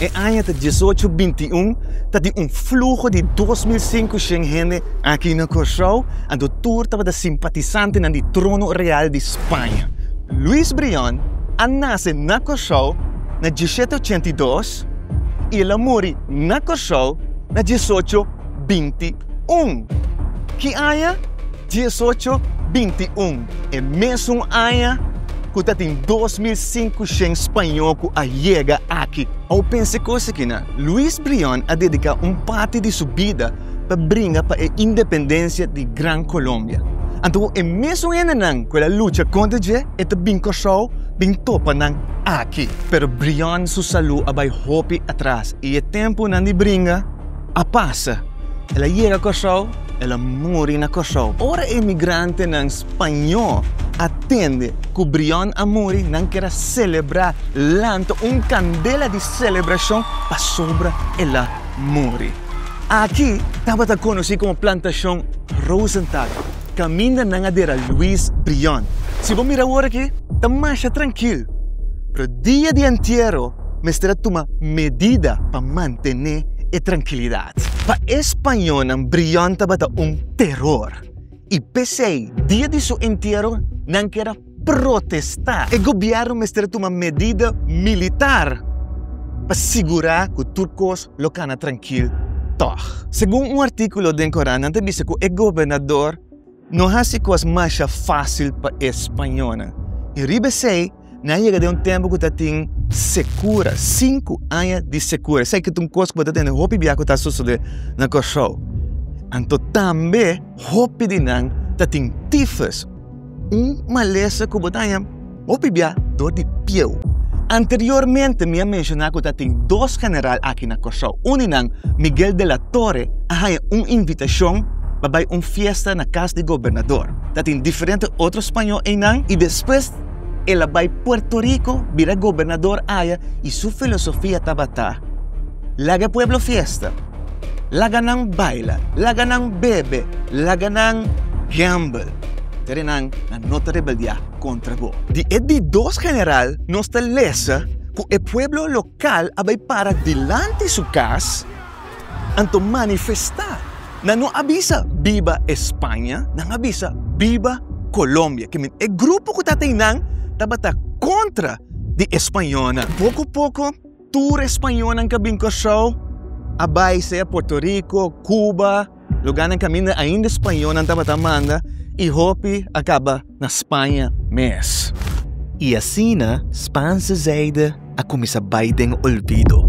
E aña ta diesocho binti un, ta di un fluho di dos mil sinkushent hende aki na Kòrsou, a do tur tabata simpatisantenan di trono real di Spaña. Luis Brion a nase na Kòrsou na diesshete ochenta i dos i el a muri na Kòrsou na diesocho binti un. Ki aña? Diesocho binti un, e mesun aña ku ta tin dos mil sinkushen spañó ku a yega aki. Awor pensa e kos aki nan, Luis Brion a dediká un parti di su bida pa bringa pa e independensia di Gran Kolombia. Anto e mesun hendenan ku el a lucha kontra dje e ta bin Kòrsou bin topa nan aki. Pero Brion su salú a bai hopi atras i e tempunan di bringa A pasa. El a yega Kòrsou, el a muri na Kòrsou. Ora e migrantenan spañó a tende ku Briòn a muri, nan kier a selebrá, lanta un kandela di selebrashon pasobra el a muri. Aki tabata konosí komo Plantashon Rosenthal. Caminda nan a dera Louis Brion. Si bo mira awor aki, ta masha trankil. Pero dia di entiero mester a tuma medida pa mantene e trankilidad. Pa e spañonan Brion tabata un teror y p'esey dia di su entiero nan keda protestá. E gobièrnu mester tuma medida militar pa sigurá ku tur kos lo kana trankil tòg. Segun un artíkulo den koran nan ta bisa ku e gobernador no hasi kos masha fásil pa e spañónan. I riba esei nan a yega den un tempu ku ta tin sekura, sinku aña di sekura. Esei ta un kos ku bo ta tende hopi bia ku ta sosodé na Kòrsou. Anto tambe hopi di nan ta tin tifes. Un malesa ku bo ta haña hopi bia dor di pieu. Anteriormente mi a menshoná ku ta tin dos general aki na Kòrsou. Un di nan, Miguel de la Torre, a haña un invitashon pa bai un fiesta na kas di gobernador. Ta tin diferente otro spañó einan i despues el a bai Puerto Riko, bira gobernador aya i su filosofia tabata, Laga e pueblo fiesta, laga nan baila, laga nan bebe, laga nan gamble, ta di nan, nan no ta rebeldiá kontra bo. Di e di dos general nos ta lesa ku e pueblo lokal a bai para dilanti su kas anto manifestá. Nan no a bisa Biba España, nan a bisa Biba Colombia. Ke men e grupo ku ta ta einan tabata kontra di e spañolnan. Poko poko. Tur e spañonan ku a bin Kòrsou a bai sea Puerto Rico, Cuba, luganan kaminda ainda e spañonan tabata manda i hopi a kaba na Spaña mes. I asina Spaanse zijde a kuminsá bai den olvido.